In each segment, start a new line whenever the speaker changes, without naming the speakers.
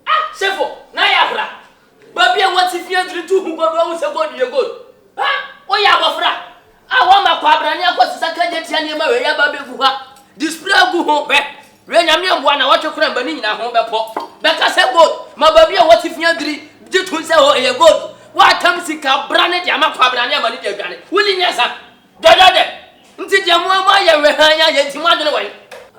Ah sefo na yɛ afra. Babi a wɔ te fie ntumi tu hu gold wahu sɛ gold yɛ gold. Ah wo yɛ abɔfra a wɔ ma kwabrane akɔ sesa kagye tia nneɛma wei yɛ ba bɛ gu ha display agu ho hwɛ wɛ nyame mboa na wɔtwe kora mba ne nyina ho bɛ pɔ bɛ ka sɛ gold ma babi a wɔ te fie diri gye to sɛ hɔ yɛ gold wɔ atam sika brane de ama kwabrane ama ne de adwane wo ni nyɛ sa. Dɔdɔdɛ, ntsi deɛ mo amu ayɛ wehann ayɛ ntsi mo adwen wɔ he?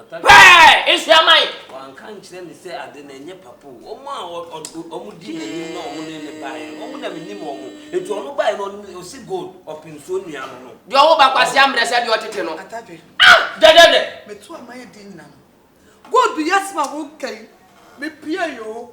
Pɛɛ! Nsua ma he? Ɔannka nnkyerɛ me sɛ
ade no nnyɛ papa o. Wɔn a wɔn dii n'anim na wɔn ne no baeɛ no, wɔn na mennim wɔn. Enti wɔn baeɛ no, wɔn ne, ɔse gold, ɔpensoɔ nnua no no. Deɛ ɔwɔ ba kwasea
mmerɛ sɛ deɛ ɔtete no. Atadwe. Ah! Dɛdɛdɛ! Meto a mayɛ din nyina
no, gold yi asɛm a woka yi, mepiae o,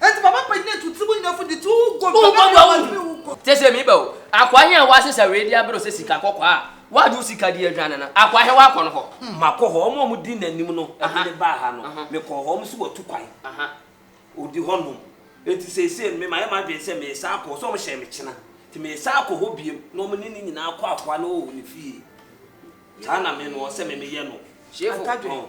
Enti papa panyin etu tsir mu nyinafo dze tu wo gua, mfɛfɛɛ nua ma dze me wo gua. Tse dze meba o.
Akoa hen a w'asesa wei de abrɛ wo sɛ sika kɔkɔɔ a w'ade wo sika de adwane no? Akoa hen w'akɔ no hɔ? Hmm, makɔ hɔ. Wɔn a wɔdi
n'anim no de no baa ha no, mekɔɔ hɔ. Wɔn nso wɔatu kwan. Wɔdi hɔnom. Enti seesei no, me mayɛ m'adwene sɛ meresan akɔ hɔ. Sɛ wɔhyɛɛ me kyena. Enti meresan akɔ hɔ bio na wɔn ne ne nyinaa akɔ akoa no wɔ ne fie. Saa na me no, ɔsɛ me meyɛ no. Atadwe,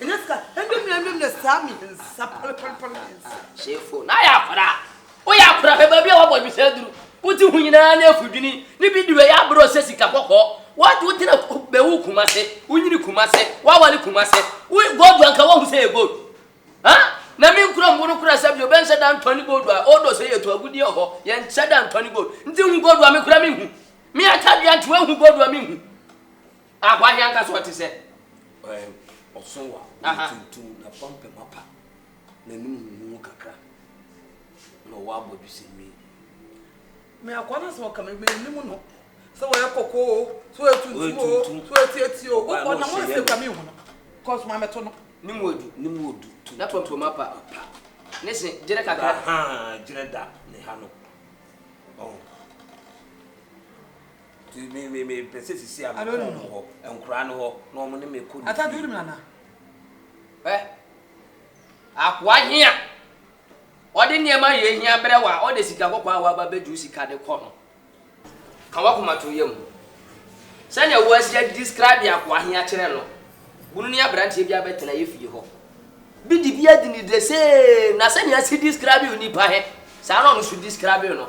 Ɛnyɛ sa ɛndɛ nua ɛndɛ nua saa mi nsa palepalepa mi nsa.
Sefo na ayɛ akora woyɛ akora hwɛ baabi a wabɔ dwesɛ duru wote ho nyinaa ne afudwini ne bi duru ɛyɛ abrɛ ɔsɛ sika kɔkɔɔ what wotena bɛwu kumase wonyini kumase wawale kumase wo gold anka wahu sɛ yɛ gold ha na me nkura mbo no kora sɛ bi obɛnhyɛ da ntɔ ne gold a ɔdɔ sɛ yɛtu agudi ɔhɔ yɛnhyɛ da ntɔ ne gold nti hu gold a me kora me hu me atadua nti wahu gold a me hu A Hwan na anka sɛ ɔte sɛ. Ɛɛ,
ɔsõ wa, ɔyɛ tuntum, n'apampam apa, n'anim huhuw kakra, na ɔwɔ abɔdwe sɛ nwi.
Me akoa no asɛm a ɔka me, minnim no. Sɛ ɔyɛ kɔkɔɔ o, sɛ ɔyɛ tuntum o, sɛ ɔyɛ tiatia o, wokɔ na wonsi kwa minhu no. Kɔ so ma mɛto no. Ne mu adu. Ne mu
adu. N'apampam apa. Apa. Ne se gyerɛ kakra. Ahaa, gyerɛ da
ne ha no. Ɔho. Nti me me me pɛ sɛ sisi a me kɔn wɔn hɔ, nkura no hɔ, na wɔn ne me kɔ ne fie.
Hwɛ,
akoa he a ɔde nneɛma a yehia brɛ wo a ɔde sika kɔkɔɔ a waba bɛduru sika de kɔ no, ka w'akoma to yam. Sɛnea woasi adescribe akoa he akyerɛ no, bunu ne aberanteɛ bi abɛtena yɛ fie hɔ. Bi de bi adi ne the same, na sɛnea asi describe onipa he, saa na ɔno nso describe no.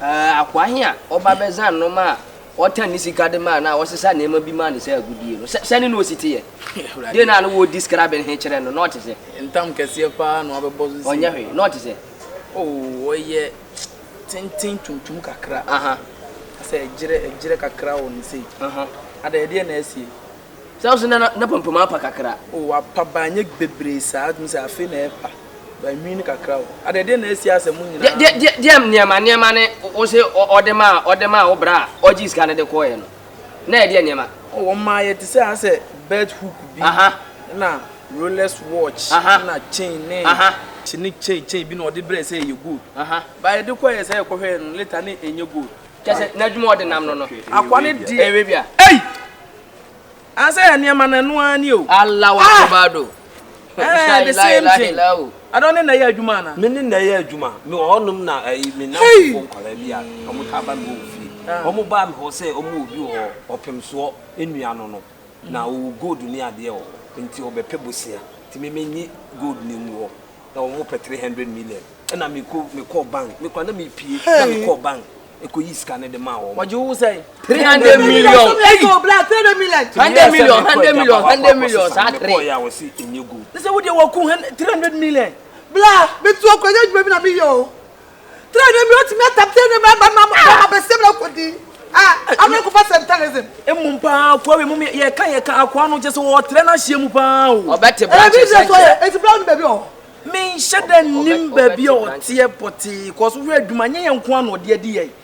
Ɛɛ, akoa he a ɔba bɛdza nnoɔma a ɔtan ne sika de mae no a ɔsesa nneɛma bi mae no sɛ agodie no, sɛ, sɛne na osi teyɛ? Deen na na wɔɔdi skraben he kyerɛ no? Na ɔte sɛ. Ntam kɛseɛ paa
na wabɛbɔ so sei. Ɔnyɛ hwee. Na ɔte sɛ.
Oo, ɔyɛ
tenten tuntum kakra. Aha.
Asɛ ɛgyerɛ,
ɛgyerɛ kakra wɔ no sei. Aha. Adɛ,
ɛdeɛ na
asie? Sɛ wo se na na,
na pampam apa kakra. Oo, wapa baa nyɛ
bebree saa, tumi sɛ afei na ɛɛpa. Banwini no kakra o. Adɛ ɛdeɛ na asi asɛ mo nyinaa no. Deɛ deɛ nneɛma
nneɛma ne wo se ɔde maa ɔde maa wo bra a ɔgyee sika no de kɔɔeɛ no na ɛdeɛ nneɛma. Oh wɔn maaeɛ te sɛ
asɛ belt hook bi ɛna Rolex watch ɛna chain ne. Kye ne chain
chain
bi na ɔde brɛɛ sɛ ɛyɛ gold but yɛde kɔɔeɛ
sɛ
yɛkɔhwɛɛ no later na ɛnyɛ gold. Kyerɛ sɛ n'adwuma a ɔde
nam no no. Akoa no deɛ. Ɛwɛ
bi a. Ei! I say
yɛ nneɛma
no ɛno ara ni o. Allahu
Ah! Akbar
do. Eh, La the ilaha same illa thing. illa hu. Ɛna ɔne na ɛyɛ adwuma anaa? Me ne na ɛyɛ adwuma.
Me wɔ hɔnom na ɛyi me Hey! nnamfofo nkwadaa bi a wɔn taa ba me hɔ wɔ fie. Ah. Wɔn baa me hɔ sɛ wɔn wɔ obi wɔ hɔ ɔpemsoɔ nnua no no na ɔwɔ gold ne adeɛ wɔ hɔ nti ɔbɛpɛ bosea nti me me nye gold no ngu hɔ na wɔn mo pɛ three hundred million ɛna me ko me kɔɔ bank me kura na me pie na me kɔɔ bank ɛkɔ yi sika ne de maa wɔn. wɔgye wo sɛ three
hundred million
ɛyi hundred
million hundred million
hundred million saa three. mekɔɔ yɛ a wɔsi enye gu.
ne sɛ wo deɛ wɔku three
hundred million. bla metu
akɔnya adwuma bi na meyɛ o Trenee bi otumi atam trenee bi aba na ɔbɛkɔ abɛsɛm na akɔdi a ama ɛkɔfa sɛntanism. Mmom paa akoa
wei mom yɛka yɛka akoa no kyɛ sɛ ɔtrɛ no ahyeɛ mu paa o. Ɔbɛte branches
ɛnkyɛ. Ɛti bra no
baabi ɔ. Menhyɛ da
nnim baabi a ɔteɛ pɔtee cause wohwɛ adwuma nyɛ yɛn nko ara na ɔde adi yɛn.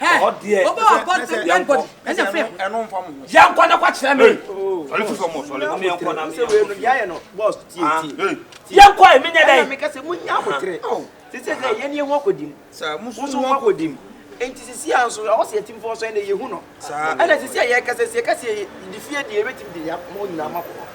Ɛhɔ
deɛ Obi wɔ abɔ sɛ dead
body ɛna fɛ ho. Ɛno nfa mo ho. Yɛn kɔ
na kɔ kyerɛ mi.
Sɔle fi fam o sɔle
mo yɛn kɔ na mi yɛn kɔ
fi. Yɛayɛ no boss
tie ah, tie. Yɛn kɔ emi nyɛ
dɛ. Ɛna mi ka sɛ mo nya abotire.
Sisi sɛ yɛn ni ehu akɔdi mu. Saa musu ehu
akɔdi mu.
Nti sisi a nso ɔwɔ sɛ yɛ ti mu fɔ nso ɛna yɛ hu no. Saa ɛna sisi a yɛ kasa si yɛ kasa yɛ di fie di yɛ bɛ ti mi di yɛ mo nyinaa ma kɔ.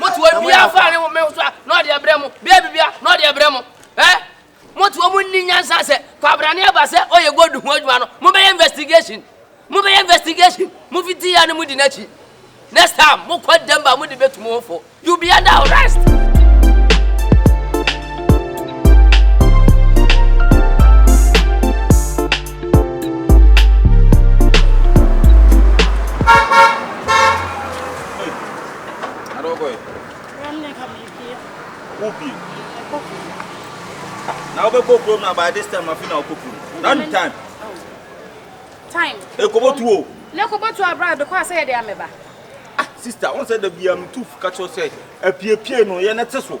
mote hɔ bia fa ne me so a na ɔde ɛbrɛ mo bia bibia na ɔde ɛbrɛ mo ɛ mote hɔ mo nni nyansa sɛ kwabrane aba sɛ ɔyɛ gold ho adwuma no mobɛyɛ investigation mobɛyɛ investigation mofiti ya no modi n'akyi next time mokɔ denver mode bɛtu mo ho fo you be under arrest
Hey, I don't go in. Ram ne ka me pie. Wo pie. Ɛkɔ kuro. Na wo bɛ kɔ kuro na by this time afi na wo kɔ kuro. Na ni time. Oh.
Time. Ekobo
tuo. Ne ekobo tuo abira
bɛ kɔ asɛ yɛ de ameba. Ah, sister,
wɔn sɛ dabi a me tu kakyɛ sɛ apiepie no yɛ ne te so.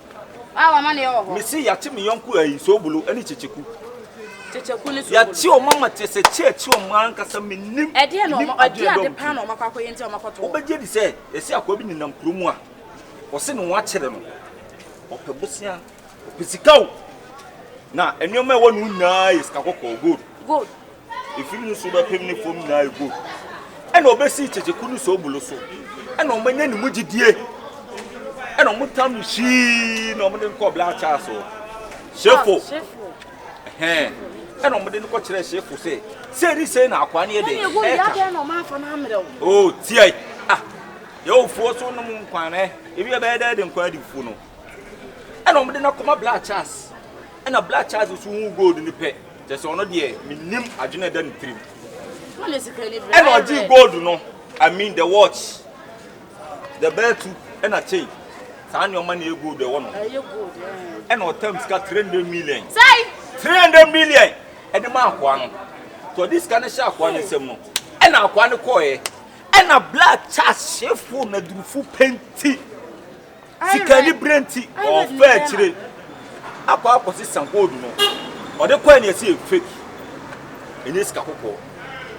Mese yɛate me yɔnko ayi
Nsoobulu ne Kyekyeku.
Yɛate wɔn ama kyerɛ
sɛ kyɛ akyi wɔn ankasa mennim nim adeɛ
a ɛdɔm ti. Wobɛgye adi sɛ yɛse
akoa bi nenam kuro mu a wɔse ne ho akyere no, ɔpɛ bosea, ɔpɛ sika o, na nneɛma a ɛwɔ ne ho nyinaa yɛ sika kɔkɔɔ, gold.
Efi ne nsu
bɛpem ne fam nyinaa yɛ gold. Ɛna ɔbɛsi kyekyeko ne sobulo so. Ɛna ɔmanya ne mu gyidie. Ɛna ɔmotam no hyii na ɔmode no kɔɔ Black Charles hɔ. Shefo. Ɛhɛn. Ɛna ɔmode no kɔkyerɛɛ Shefo sɛ, sei ne sei na akoa no yɛ dɛn ɛka.
O, tiae.
Ah, yɛwofoɔ so nom nkwan ɛ. Ebi ɛbɛyɛ dɛ de nkwan adifoɔ no. Ɛna ɔmode no akɔma Black Charles. Ɛna Black Charles so hu gold no pɛ. Kyerɛ sɛ ɔno deɛ menim adwene a ɛda ne tirim.
Ɛna ɔgyee gold
no, I mean the watch, the bɛɛtu ɛna chain. Saa nneɛma na ɛyɛ gold ɛwɔ no.
Ɛna ɔtam
sika 300 million.
300 million
ɛde ma akoa no. Tɔ de sika no hyɛ akoa no nsam no. Ɛna akoa no kɔɛ. Ɛna black chas hyefo na durufo penti. Sikanibere nti ɔɔfa akyire akɔ akɔsesa gold no ɔde kɔɛ no yɛse yɛ fake ɛnyɛ sika kɔkɔɔ.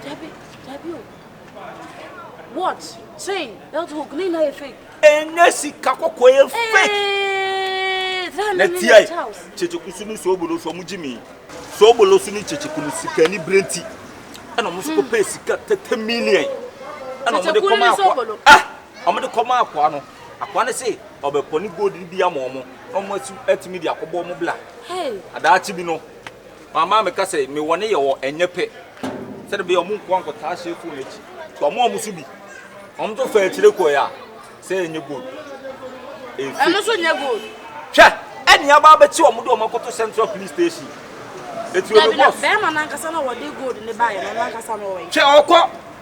Dabi
dabi o watch chain belt hook ne nyinaa yɛ fake. Ɛnyɛ sika
kɔkɔɔ yɛ fake. Eeeeee na tia yi kyekyekosu ne soobolosu ɔmo gye mi soobolosu ne kyekyeku no sikanibere nti ɛna ɔmo so kɔpɛɛ sika tɛtɛ million ɛna ɔmo de kɔmaa akɔ ah ɔmo de kɔmaa akɔ ano. Akoa no se ɔbɛpɔ ne gold no bi ama wɔn na wɔn nso atumi de akɔbɔ wɔn bla. Na daakye
bi no,
maame a meka sɛ mewɔ ne yɛ wɔ ɛnyɛ pɛ sɛdeɛ bɛyɛ wɔn nkoa nkɔtaa hyɛ fon no akyi. Nti wɔn a wɔn so bi, wɔn nso faa akyire kɔɛ a, sɛ ɛnyɛ gold. Ɛyɛ fake.
Ɛno so nyɛ gold. Hwɛ,
ɛne aba abɛkye wɔn de wɔn akɔto Central Police Station. Ɛti wɔn boss. Dabi na bɛrima no ankasa na wɔde
gold no baeɛ no, ɔno ankasa no ɔwɔ he? Hwɛ, ɔkɔ.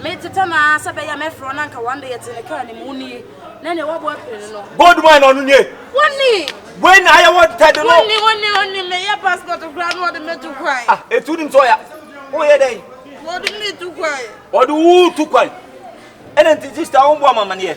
Metetɛ no ara sɛ ɛbɛyɛ a mɛfrɛ wo na anka wɔn de yɛte ne kaa no mu. Wo nie, na nea wɔabɔ apini no no. Bold man ɔno nie.
Wo ni.
Wei na ayɛ wɔn
tɛde no. Wo ni, wo ni, wo ni, meyɛ
passport koraa na wɔde me to kwan. Ah, etu nim sɛ ɔya.
Woyɛ dɛn? Wɔde me to
kwan. Wɔde wo to
kwan. Ɛna nti sister wo mboa ma amaneɛ.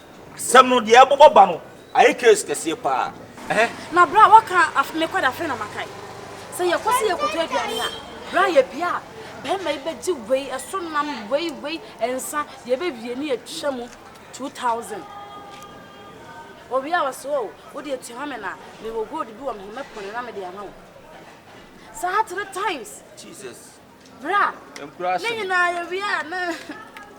Sɛm no deɛ ɛbobɔ ba no ayɛ case kɛseɛ paa eh. Na berɛ a
wɔka af me kɔda afei na makae sɛ yɛkɔ sɛ yɛkɔtɔ aduane a berɛ a yɛbia a barima yi bɛgye wei ɛso nam wei wei nsa deɛ ɛbɛwie ne atwa mu 2000 wɔwie a wɔse o wode atua me na mewɔ gold bi wɔ me ho mɛpɔne na mede ama wo saa three times. Jesus.
Bra.
Nkura ahye. Ne nyinaa
yɛ wia
na.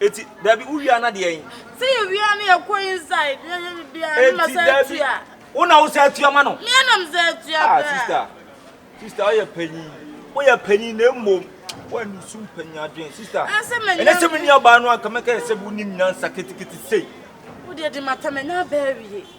Eti dabi
wo wia na deɛ yin. Sɛ yɛ wia na
yɛ kɔ inside yɛ yɛ bibia ne ma sɛ atua. Wo na wo sɛ atua
ma no. Mia nam sɛ atua
ah, bra. Ah sister,
sister ɔyɛ panyin, ɔyɛ panyin na emom wɔn ni sum panyin adwene sister. Ɛnɛ sɛ mi ni ɔbaa no anka mɛka yɛ sɛ bi wo ni nyansa ketekete sei. Wo deɛ di ma
tɛmɛ nya bɛɛ wie.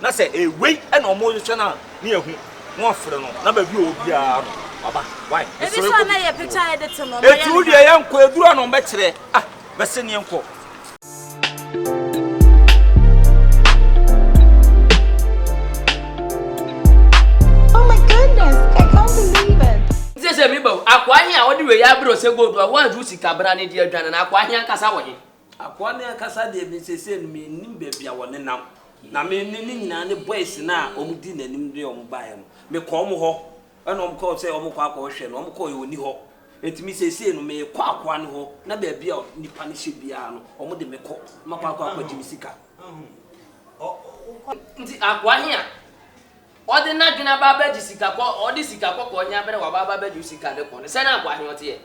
Na sɛ ɛyɛ wei na ɔmo rehwehwɛ no a, ne yɛahu, na wɔafrɛ no, na baabi a ɔwɔ biara no, waba. Wai, mesrɛ wo kɔ bi si fie
hɔ. Enti wo deɛ yɛnkɔ,
ɛduru a na ɔmbɛkyerɛ. Ah, mɛse ne yɛnkɔ.
Nti sɛ meba o, akoa he a ɔde wei abrɛ wo sɛ gold a woanhyew sika bra no de adwane no, akoa he ankasa wɔ he? Akoa no ankasa
deɛ me seesei no mennim baabi a wɔnenam, na me ne ne nyinaa ne boys no a wɔdii n'anim de wɔn baeɛ no, mekɔɔ wɔn hɔ, ɛna wɔkaa sɛ wɔrekɔ akɔhwɛ no, wɔkɔeɛ no, ɔnni hɔ. Enti me seesei no merekɔ akoa no hɔ, na baabi a nnipa no hyɛ biara no, wɔde me kɔ, na makɔ akɔ akɔgye me sika.
Nti akoa he a ɔde n'adwene aba abɛgye sika kɔ, ɔde sika kɔkɔɔ he abrɛ wo aba abɛgye wo sika de kɔ no, sɛn akoa he ɔteɛ?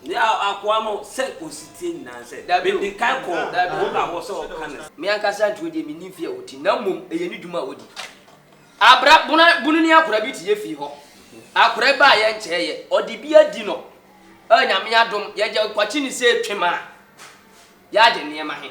Nea akoa
no sɛ kosi tie nyinaa ne sɛ, Dabi o, mede kan kɔ wɔn a wɔsɛ wɔka ne sɛ. Me ankasa ntuo deɛ
mennim fie a wɔti, na mmom ɛyɛ ne dwuma a wɔdi. Abra bona bunu ne akora bi te yɛ fie hɔ. Akora yi baa yɛ nkyɛɛ yɛ, ɔde bi adi no a Nyame adom yɛgya kwakye ne sɛ twem a, yɛagye nneɛma he.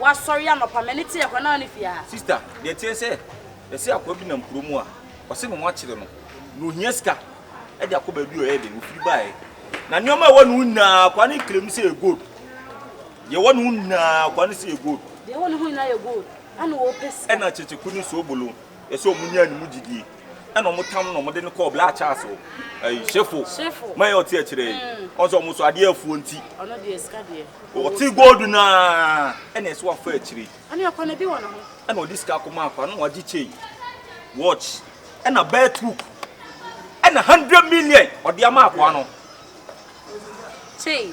Wasɔre anɔpa, m'ani te akora no ara ne fie ha. Sista, deɛ ɛteɛ ne sɛ,
yɛse akoa bi nam kuro mu a, wɔse me wɔakyere no, na ohia sika de akɔ baabi a ɔyɛ den, ofiri baeɛ. Na nneɛma a ɛwɔ ne ho nyinaa, akoa no claim sɛ ɛyɛ gold. Deɛ ɛwɔ ne ho nyinaa, akoa no se ɛyɛ gold. Deɛ ɛwɔ ne
ho nyinaa yɛ gold, ɛna ɔpɛ sika. Ɛna kyekyeko ne
soobolo. Yɛ sɛ ɔmo nyaa ne mu gyidie ɛna ɔmo tam no na ɔmo de no kɔɔ black chance o ɛyi shefo ma yɛ ɔte ɛkyerɛ yi ɔn sɛ ɔmo so adeɛ afuo nti
ɔte gold
naa ɛna ɛsɛ wafa akyire
ɛna ɔde sika kɔma
afa na wagye chain watch ɛna belt hook ɛna hundred million ɔde ama akoa no
chain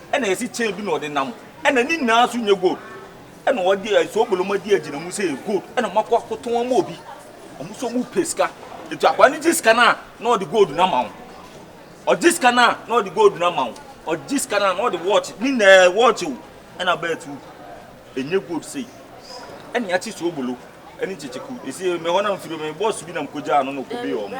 Ɛna yɛsi chain bi na ɔde nam ɛna ne nyinaa nso nyɛ gold ɛna ɔde eh, soboloma di agyina mu sɛ yɛ gold ɛna ɔmakɔ akotɔn ama obi ɔmo nso ɔmo pɛ sika etu akwa ne gye sika no a na ɔde gold no ama wo ɔgye sika no a na ɔde gold no ama wo ɔgye sika no a na ɔde watch ne nyinaa eh, watch o ɛna bɛɛ tu ɛnyɛ gold sei ɛna yɛakye sobolo ɛne kyekyeku ɛsi mɛ
hɔ na
mfiri mɛ bɔs bi na
mkɔgyaa
no na ɔkɔbee ɔmo